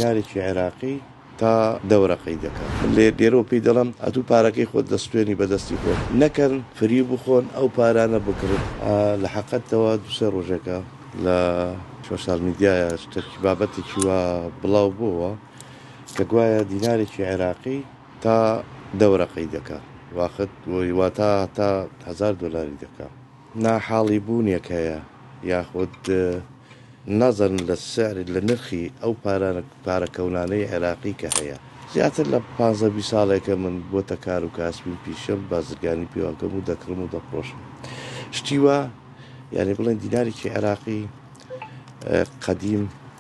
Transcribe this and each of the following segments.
نارێکی عێراقی تا دەورەقەی دەکا لێ لێرەوە پێی دەڵێم ئەتوو پارەکەی خۆت دەستوێنی بە دەستی خۆت نەکەن فریو بخۆن ئەو پارانە بکڕن لە حەقەتەوە دوو سێ ڕۆژێکە لە شۆشال میدیایە شتەکی بابەتێکی وا بڵاو بۆوە کە گوایە دینارێکی عێراقی تا دەورەقەی دەکا واخت وەی واتا تا هەزار دۆلاری دەکا. ناحاڵی بوونێک هەیە یاخود نەزەرن لە سعر لە نرخی ئەو پارانە پارە کەونانەی عێراقی کە هەیە زیاتر لە پانزە بیست ساڵێکە من بۆتە کار و کاسبیم پیشەم بازرگانی پێوەکەم و دەکڕم و دەفڕۆشم شتی وا یانی بڵێن دیناریکی عێراقی قەدیم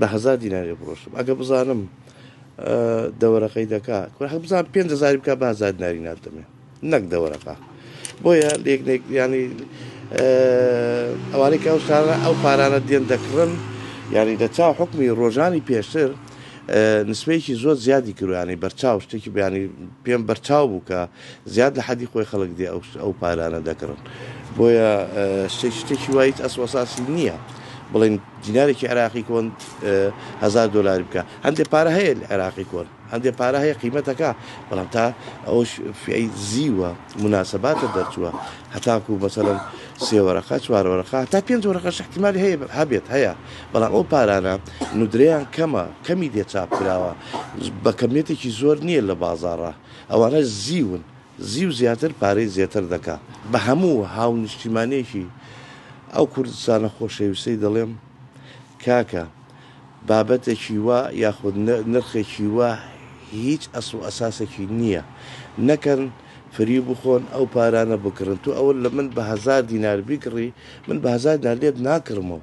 بە هەزار دینار لێ بڕۆشتم ئەگە بزانم دەوەرەقەی دەکا کوڕ بزان پێنج هەزاری بکە بە هەزار دیناری ناتەمێ نەک دەوەرەقە بۆیە لێکنێک ینی ئەوانەی کە ئەو شارە ئەو پارانە دێن دەکڕن ینی لە چاو حکمی ڕۆژانی پێشتر نسبەیەکی زۆر زیادی کروانی بەرچاو شتێکی بیانی پێم بەرچاو بوو کە زیاد لە حەدی خۆی خەڵک دێ ئەو پارانە دەکڕن بۆیە شتێکی وای هیچ ئەسڵ وەساسی نییە بڵێن دینارێکی عێراقی کۆن هزار دلار بکە هەندێک پارە هەیە لە عێراقی کۆن هەندێک پارە هەیە قیمەتەکە بەڵام تا ئەوش فی زیوە مناسباتە دەرچووە هەتاکو مەسەرم سێوەرەقە چوارەوەرەقا تا پێنج وەرەقە شحتیمالی هەیە هەبێت هەیە بەڵام ئەو پارانە ندریان کەمە کەمی دێ چاپ کراوە بە کەمیتێکی زۆر نییە لە بازارڕە ئەوانە زیون زیو زیاتر پارەی زێتر دەکا. بە هەموو هاونیشتیمانێکی ئەو کوردستانە خۆشەویستەی دەڵێم، کاکە بابەتێکی وا یاخود نرخێکی وا هیچ ئەسڵ و ئەساسێکی نییە، نەکەن فریو بخۆن ئەو پارانە بکڕن، تۆ ئەوە لە من بە هەزار دینار بیکڕی من بە هەزار دینار لێت ناکڕمەوە،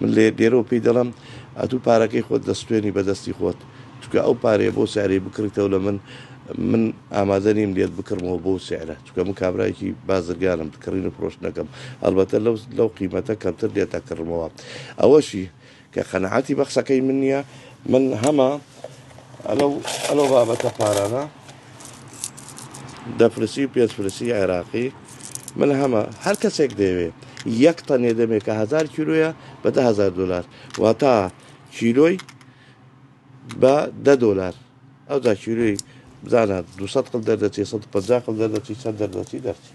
من لە یەک لێرەوە پێی دەڵێم ئەتوو پارەکەی خۆت دەسوتێنی بە دەستی خۆت چونکە ئەو پارەیە بۆ سعرەی بکڕیتەوە لە من من ئامادە نیم لێت بکڕمەوە بەو سعرە چونکە من کابرایەکی بازرگانم کڕین و فرۆشتنەکەم هەڵبەتە لەو لەو قیمەتە کەمتر لێت ئەکڕمەوە ئەوەشی کە قەناعەتی بە قسەکەی من نییە من هەمە ئەلەو ئەلەو بابەتە پارانە دەپرسی و پێتپرسی عێراقی ملهەمە، هەر کەسێک دەیەوێ یەک تەنێ دەمێ کە هەزار کیلۆیە بە دە هەزار دۆلار واتا کیلۆی بە دە دۆلار ئەوجا کیلۆی بزانە دو سەد قل دەردەچێ سەد و پەنجا قل دەردەچی چەند دەردەچی دەرچی